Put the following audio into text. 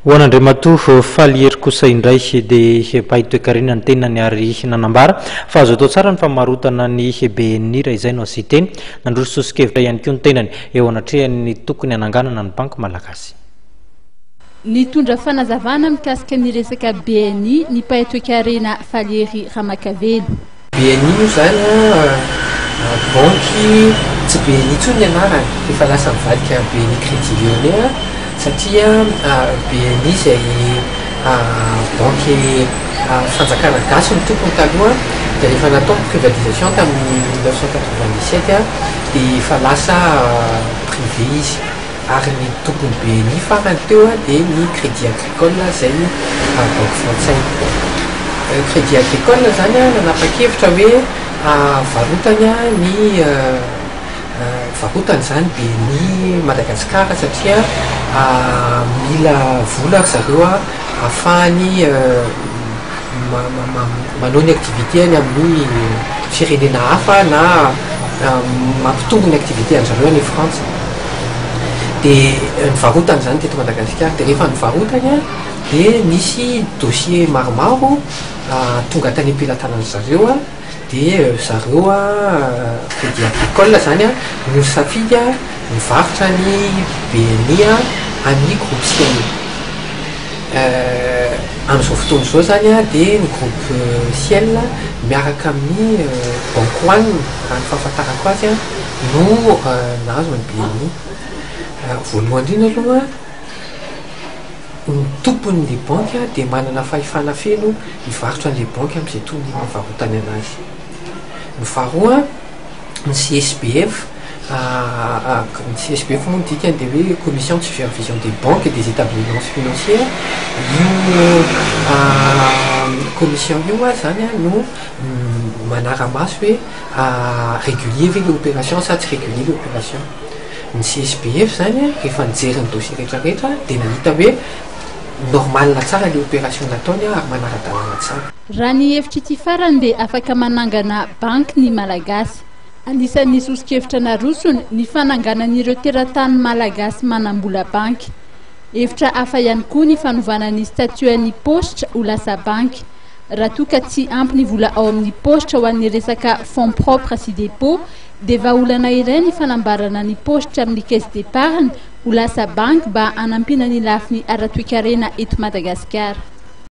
Ho an'Andriamatoa Falihery kosa indray dia mpahay toekarena ny tenany ary nanambara fa azo atao tsara ny famarotana ny BNI raha izay no asia-teny. Nandroso soso-kevitra ihany koa ny tenany eo anatrehan'ny tokony hananganana ny Banky Malagasy. Nitondra fanazavana mikasika ny resaka BNI ny mpahay toekarena Falihery Ramakavelo. BNI moa izany an, banky tsy BNI intsony ny anarany, efa lasa nivadika BNI Crédit Lyonnais satria BNI izay banky fanjakana gasy no tompony taloha dia rehefa natao ny privatisation tamin'ny mille neuf cent quatre-vingt-dix-sept dia efa lasa privé izy. Ary ny tokony BNI farany teo dia ny Crédit Agricole izay banky frantsay. Crédit Agricole izany nanapa-kevitra hoe havarotany ny varotany izany BNI Madagascar satria mila vola ry zareo ahafahany manao ny activité-ny amin'ny firenena hafa na mampitombo ny activité-ndry zareo any Frantsa. dia nivarotana izany teto Madagasikara dia rehefa nivarotany dia nisy dossier maromaro tonga tany am-pelatanan'ny zareo a dia zareo a crédit agricole izany a no safidy a nivarotra ny BNI a amin'ny groupe Siami amin'izao fotoana izao izany a dia ny groupe Ciel miaraka amin'ny banque one raha ny fahafantarako azy a no nahazo ny BNI. Voalohany indrindra aloha, ny tompon'ilay banky dia manana fahefana feno hivarotra an'ilay banky amin'izay tokony hivarotany an'azy. Ny faharoa, ny CSBF, ny CSBF moa ny dikany dia hoe commission de supervision des banques des établissements financiers, io commission io ary izany no manara-maso hoe. A régulier ve le opération sa tsy régulier le opération? Ny CSBF zany rehefa nijery ny dossier rehetra rehetra dia nahita hoe normal tsara le opération nataony ary manara-dalàna tsara. Raha ny hevitr'ity farany dia afaka manangana banky ny Malagasy. Anisan'ny soso-kevitra narosony ny fananganan'ireo teratany Malagasy manam-bola banky. Hevitra hafa ihany koa ny fanovana ny statut-n'ny Paositra ho lasa banky. Raha toa ka tsy ampy ny vola ao amin'ny paositra ho an'ny resaka fonds propres sy dépôt dia vahaolana iray ny fanambarana ny paositra amin'ny caisse d'épargne ho lasa banky mba hanampiana ny lafiny ara-toekarena eto Madagasikara.